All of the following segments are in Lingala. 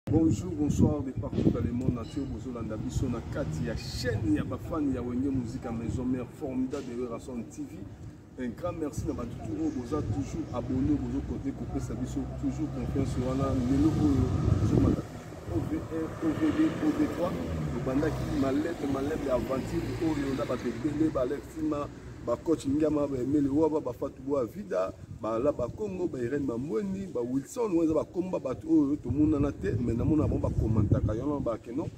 Bonjour, bonsoir de partout dans le monde entier. Bozolanda biso na kati ya chaîne ya bafani ya Wenge Musique à Maison Mère formidable de Rason TV. Un grand merci na bato tout oyo boza toujours abonné bozo côté kopesa biso toujours confiance wana lelo oyo tozomata OVR, OVD, OV3 obandaki malete malete ya aventure oyo na bato ebele balexima ba coach ngiama ba emele waba ba fatu boa vida ba la ba congo ba irene mamweni ba wilson oyo eza bakomba bato oyo tomonana te me namona bango bakomantaka yango bake non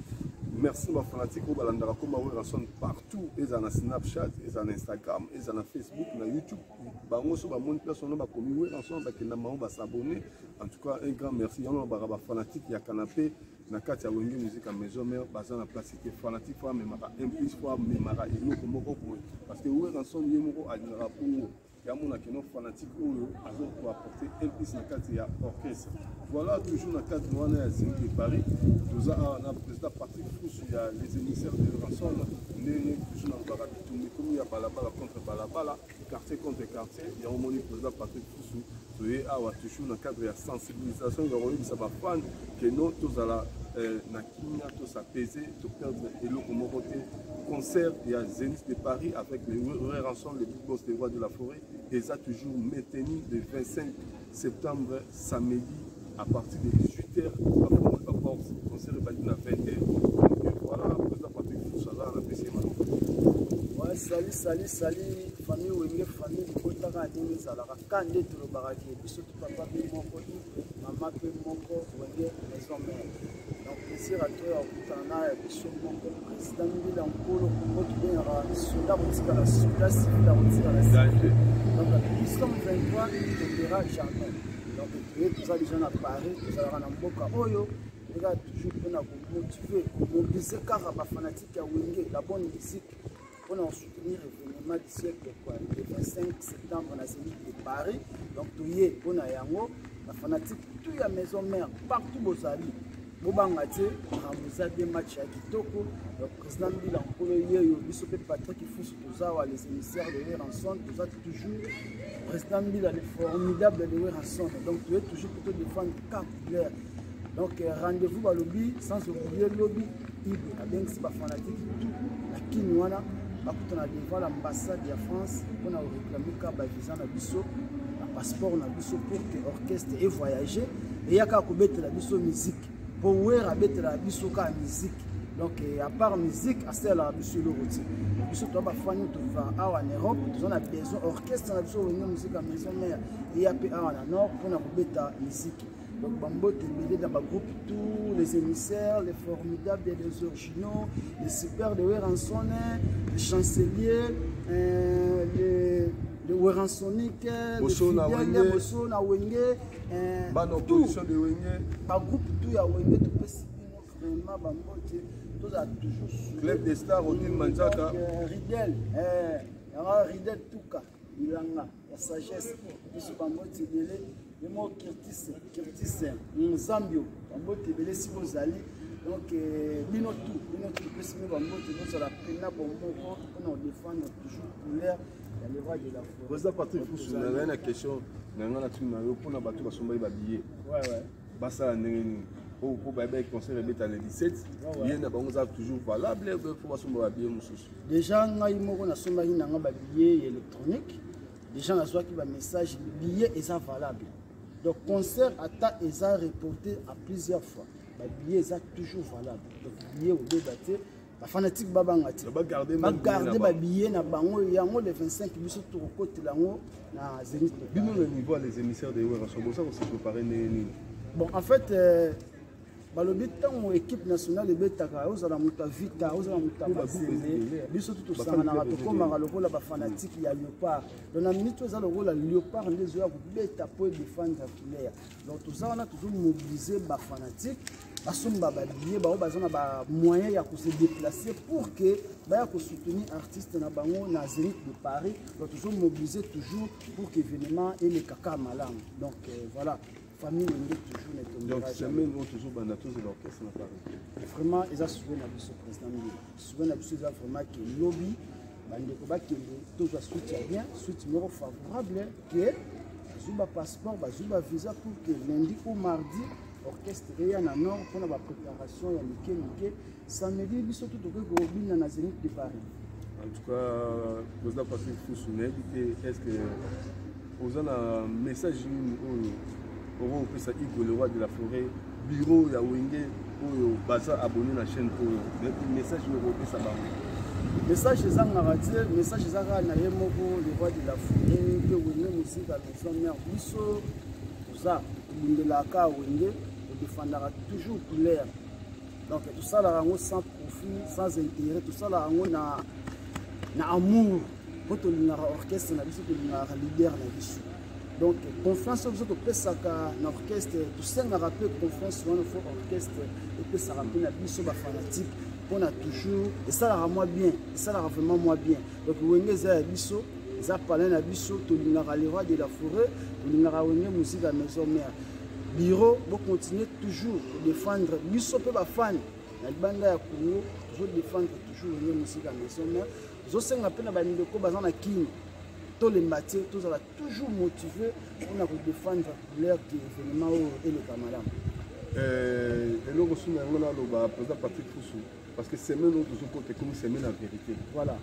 merci ba fanatique oyo balandaka koma werrason partout ezala na snapchat ezala na instagram ezala na facebook na youtube bango so bamoni place wana bakomi werrason bakenda bango basabonne en tout cas un grand merci yango nabaka bafanatique ya canapé na kati ya wenge musique ya maison mère baza na place te fanatique fo amemaka un plus fo amemaka eloko moko boye parce que weranson ye moko alingaka bongo yamona keno fanatique oyo aza koapporte un plus na kati ya orchestre voilà toujours na cadre wana ya zemi de paris toza awa na président patrick fusu ya les émissaires de ranson ndenge toujours nalobaka bitumbi komi ya balabala contre balabala quartier contre quartier yango omoni président patrick fusu toye awa toujours na cadre ya sensibilisation ya koyebisa bafane keno tozala euh, na kimia tosapese toperdre eloko moko te concert ya zenith de paris avec le ranson le big boss le roi de la forêt eza toujours maintenu de 25 septembre samedi à partir de 18 heures bafongola baporte concert ebandi na 20 heures voilà président patrick fusala na pesi ye maloba Ouais, salut, salut, salut, famille Wenge, famille Bikotaka, Adini Zalaka, Kande, Tolobaka, Biso, Papa, Moko, Mama, Moko, Wenge, Maison Mère. na plaisir ato ya kokutana na ya biso moko président mbila nkolo moko tobengaka soda kotikala soda civil akotikala civil donc nous sommes 23 tobera jamais donc toye toza déjà na paris tozalaka na mboka oyo eza toujours mpona komotive komobilize kaka bafanatike ya wenge la bonne musique mpo na kosoutenir événement du siècle quoi le 25 septembre na zénith de paris donc toye mpo na yango bafanatique tout ya maison mère partout bozali bobanga te makambo eza bien match ya kitoko donc président mbila nkolo yeyo biso mpe patrick ifusu toza wa les émissaires de leranson toza Toujours, président Mbila, le formidable de Werrason. Donc, tu es toujours plutôt défendre quatre couleurs. Donc, euh, rendez-vous à lobby, sans oublier lobby, Ibe, avec ses fanatiques, tout, la Kinwana, bakutana devant l'ambassade ya France mpo na koreklame ka bavisa na biso na passeport na biso pour que orchestre evoyage eyaka kobetela biso musique po werra abetelaka biso kaka miziki donc euh, à part musique asalelaka biso eloko ti biso toa bafani tova awa na europe toza na besoin orchestre na biso wenge mosika maison mare eya mpe awa na nord mpona kobeta miziki donc bambote ebele na bagroupe tous les émissaires les formidables et les originaux les super de weranson les chancelier euh, les le weransonique le fidèle boso na wenge eh, bana opposition de wenge bagroupe tout ya wenge topesi bino vraiment bambote tozala toujours club de star odin manzaka euh, ridel eh, yango ridel tuka bilanga ya sagesse biso bambote ebele yemo kirtise kirtise mozambio bambote ebele siko ozali donc euh, bino tout bino tout topesi bino bambote bozala pena bomoko mpona kodefendre toujours couleur Président Patrick Fusu, na ngai na question na ngai na tuni na yo mpo na bato basombaki babillet basala ndenge nini oyo mpo bayebaki concert ebeta le 17 ye na bango eza toujours valable mpo basomba babillet mosusu déjà ngai moko nasombaki na ngai babillet ya électronique déjà nazwaki bamessage billet eza valable donc concert ata eza reporté à plusieurs fois babillet eza toujours valable donc billet obeba te ba fanatique babanga te bagarde babillet na bango yango le 25 biso tokokotela yango na zenith bino na niveau les émissaires de werraso boza kose prépare ndenge nini bon en fait euh, balobi ntango équipe nationale ebetaka ozala moto ya vita ozala moto ya basende biso tu tosanganaka tokomaka lokola bafanatike ya leopard don na minute eza lokola leopard nde ezoya kobeta mpo edefendre ya couleur donc toza wana tozomobilize bafanatike basomba babillet bango baza na bamoyen ya kose déplacer pour que baya kosoutenir artiste na bango na zénith de paris donc tozomobilise toujours pour que événement eleka kaka malamu donc euh, voilà famille ende toujours na etombeazobanda tozela orchestre na paris vraiment eza souve na biso président mbila souve na biso eza vraiment ke lobi bandeko bakende tozwa suite ya bien suite moko favorable ke bazwi bapasseport bazwi bavisa pour ke lundi ou mardi orchestre eya na nord mpona ba préparation ya mike mike samedi biso to tokoki kobina na zenith de paris en tout cas président patrick fusu nayebi te est ce que oza na message nini oyo okoki kopesa igo le roi de la forêt biro ya wenge oyo baza abonné na chaîne oyo message oyo okopesa bango message ezangaka te message eza kaka na ye moko le roi de la forêt mpe wenge mosika maison mare biso toza tobundelaka ya wenge todefandaka toujours couleur donc tosalaka yango sans profit sans intérêt tosalaka yango na, na amour mpo tolingaka orchestre na biso tolingaka leader na biso donc confiance oyo biso topesaka na orchestre tosengaka mpe confiance wana fo orchestre epesaka mpe na biso bafanatique mpona toujours esalaka mwa bien esalaka vraiment mwa bien donc wenge eza ya biso eza palin na biso tolingaka le roi de la forêt tolingaka wenge musique ya maison mère bureau bocontinue toujours kodefendre biso mpe bafani na libanda ya congo tozodefendre toujours wenge musique ya maison mère tozosenga mpe na bandeko baza na kini tolemba te tozala toujours motive mpona kodefendre couleur ke événement oyo eleka malamu eh, eloko suna yango naloba président patrick fusu Parce que semaine où toujours côté comme semaine en vérité. Voilà.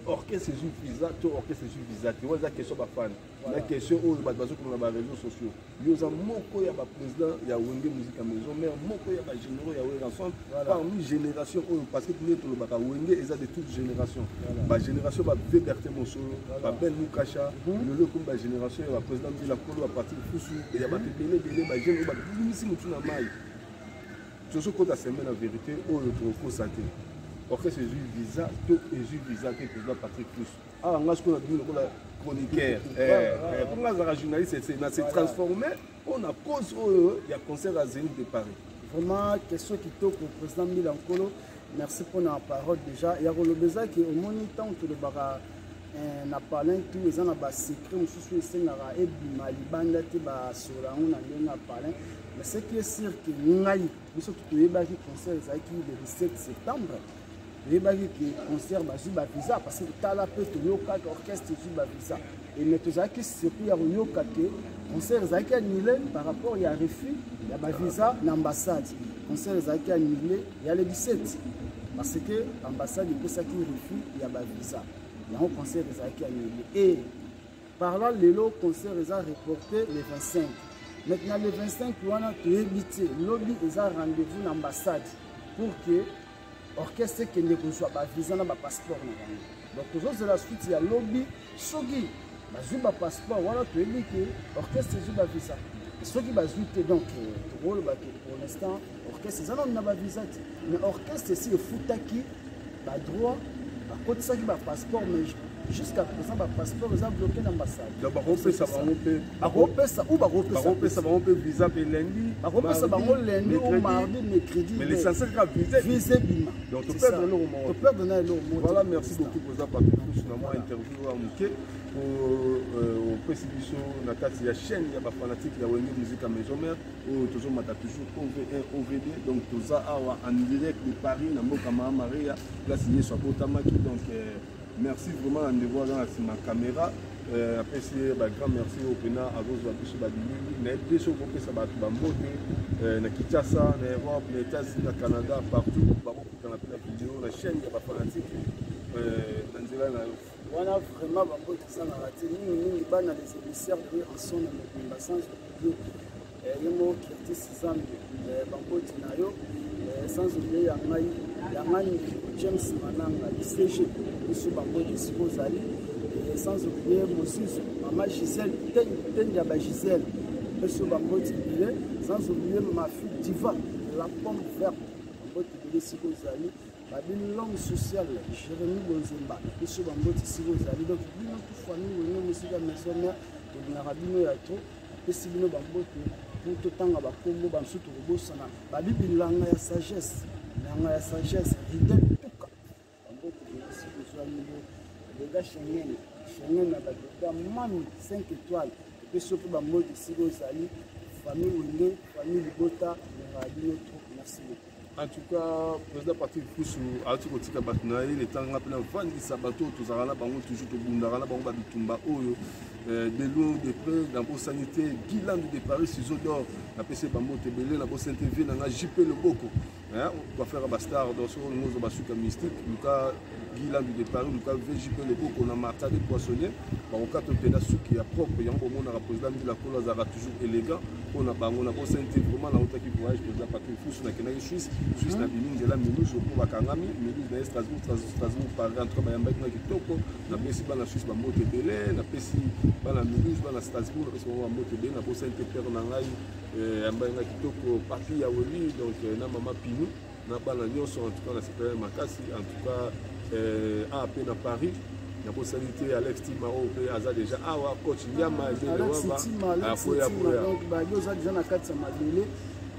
Orchestre ezwi visa to orchestre ezwi visa te wana eza question bafani na question oyo bato bazokomona ba réseaux sociaux yo oza moko ya baprésident ya wenge musique ya maison mare moko ya bagénéraux ya weranson parmi génération oyo parce que tondie tolobaka wenge eza de toute génération bagénération babeberte mosolo babel mukasha mhm. lelo ekomi bagénération ya baprésident mbila kolo ya parti kusu ya bato ebele ebele bagene oyo babimisi motu na mai tozo kota sembe na verite oyo tokokosa te orchestre ezwi visa to ezwi visa te président patrick plus awa nga sikoyo nabimi lokola chroniqueur mpo eh, eh, eh, nga azalaka journaliste ese na se transforme mpo na cause oyo ya concert ya zénith de paris vraiment question kitoko président mila nkolo merci mpo na parole déjà ya koloba eza ke omoni ntango tolobaka eh, na palin tu eza na basecret mosusu esengaka ebima libanda te basola yango na ndenge ya palin mais ce qui est sûr ke ngai biso toyebaki concert ezalaki le 17 septembre toyebaki ke concert bazwi bavisa parce que tala mpe toyokaki orchestre ezwi bavisa e mais tozalaki surpris ya koyoka ke concert ezalaki annule par rapport ya refus ya bavisa na ambassade concert ezalaki annule ya le 17 parce que ambassade epesaki refus ya bavisa yango concert ezalaki ya nini e parlant lelo concert eza reporte le 25 maintenant le 25 wana toyebi te lobi eza rendez-vous na ambassade pour que orchestre ekende kozwa bavisa na bapasseport na bango donc tozozela suite ya lobi soki bazwi ba passeport wana toyebi ke orchestre ezwi ba visa soki bazwi te donc euh, tokoloba ke pour l'instant orchestre eza nano na ba visa te mais orchestre esi efutaki ba droit bakotisaki ba passeport mais jusqu'à présent ba passeport eza bloqué na ambassade donc bakopesa bango mpe bakopesa ou bakopesa bango mpe visa mpe lundi bakopesa bango lundi ou mardi mercredi mais l'essentiel kaka visa visa ebima donc toperdre eloko moko toperdre na eloko moko voilà merci beaucoup oza bato mosusu na mwa interview ya moke po euh, opesi biso na kati ya chaîne ya bafanatike ya wenge musique ya maison mère oyo tozomata toujours ove1 ovd donc toza awa en direct de paris na mboka maa maria place yesu abotamaki donc euh, merci vraiment na ndeko aza na nsima caméra euh, apesi ye bagrand merci oyo mpena akozwa biso babilili nayebi te soki okopesa bato bambote na kinshasa na europe na etats-unis na canada partout kanga mpe na video na chaîne ya bafanatike euh, na nzela na yo wana vraiment bango ezalaka te mingi mingi bana les émissaires de ranson na mobimba sans oublier euh, ye moko curtis zambe euh, bankoti na yo sans oublier ya ngai ya ngai ndeko james mananga icg biso bango esika ozali sans oublier mosusu mama gisele tende ya bagisele biso bango tibile sans oublier mafi diva la pomme verte Mbote bele siko zali ba bino l'homme social Jérémy Bonzemba biso ba mbote siko zali donc bino tout famille wenge musika maison mère tolingaka bino ya trop apesi bino ba mbote pour totanga ba kombo ba misusu tokobosana babi bilanga ya sagesse bilanga ya sagesse ridel tuka boda shengen shengen na badoda mami 5 étoile mpe soki bamodi esika ozali famille wenge famille libota nalingaka bino trop merci beaucoup en tout cas président parti kusu azalaki kotika bato na ye letanga mpe navandisa bato oyo tozalaka na bango toujours tobundaka na bango babitumba oyo euh, de loin de près nabosani te gilandu de paris ciseau d'or napesi bango te ebele nabosani te vie na ngai jp loboko hein coiffeur ba star dans son mozo ba suka mystique luka Guilan du départ luka VJ pe le koko na Martha de poissonnier ba okato pena suki ya propre yango mona ka président de la cola zara toujours élégant pona bango na ko sente vraiment na otaki voyage président Patrick Fusu na kenaki Suisse Suisse na bimi nzela minus ko ba kangami minus na Strasbourg Strasbourg Paris en tout cas yamba ki kitoko na pesi bana Suisse ba mbote belé na pesi bana minus bana Strasbourg na pesi ba mbote belé na ko sente père na ngai Eh, ambainga kitoko papi ya weli donc eh, na mama pinu na bana nyonso en tout cas nasepelai makasi en tout cas eh, a mpe na paris nakosali te alex tima oyo mpe aza déjà awa coach yama ebeakoya koyababi oza déjà na kati ya mabele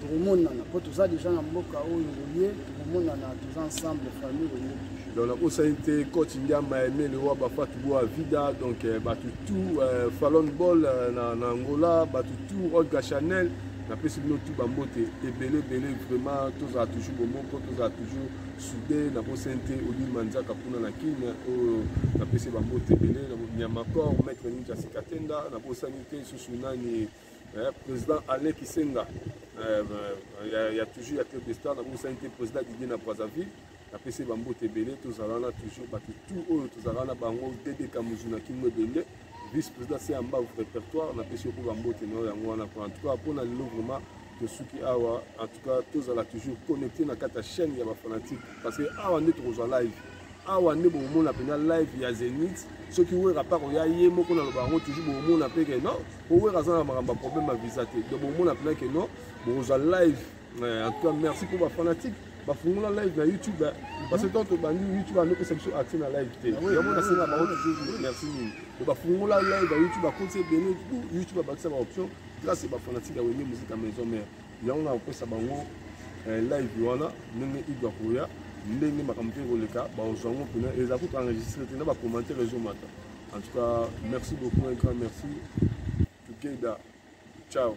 tokomonana mpo toza déjà na mboka oyo oye tokomonana toza ensemble famille oye donc nakosani te coach ndiamba emele wa bafatu boa vida donc euh, bato tout euh, falon ball euh, na, na angola bato tout olga chanel napesi bino tout bambote ebele ebele vraiment tozala toujours bomoko tozala toujours soude nakosani te odile manzaka kuna na kin oyo napesi bambote ebele nyamakor maître ninja sikatenda nakosani te susu nani eh, président alain kisenga eh, ya, ya toujours ya club de star nakosani te président didier na brazzaville napesi ba mbote ebele tozala wana toujours bato tout oyo tozalaka na bango dd kamuzu na kingo ebende vice président se ya mbavu répertoire napesi yo mpe ba mbote na yo yango wana en tout cas mpo na lelo vraiment tosuki awa en tout cas tozala toujours connecté na kati ya chaîne ya bafanatique parce que awa nde tokozwa live awa nde bokomona mpenza live ya zenith soki wera mpe akoya ye moko naloba yango toujours bokomona mpe ke non mpo wera aza na makambo ya problème ya visa te donc bokomona mpenza ke non bokozwa live en tout cas merci pour ba fanatique bafungola live na youtube parce que tant tobandi youtube anopesa biso accès na live te ah yango nasenga bango toujours merci mingi po bafungola live ya youtube akoti ebele youtube abakisa baoption place bafanatique ya wenge musika maison mare yango nakopesa bango eh, live wana ndenge ido akoya ndenge makambo mpe ekoleka baozwa yango mpena eza kutu enregistre te na bacommentaire ezomata en tout cas merci beaucoup un grand merci together ciao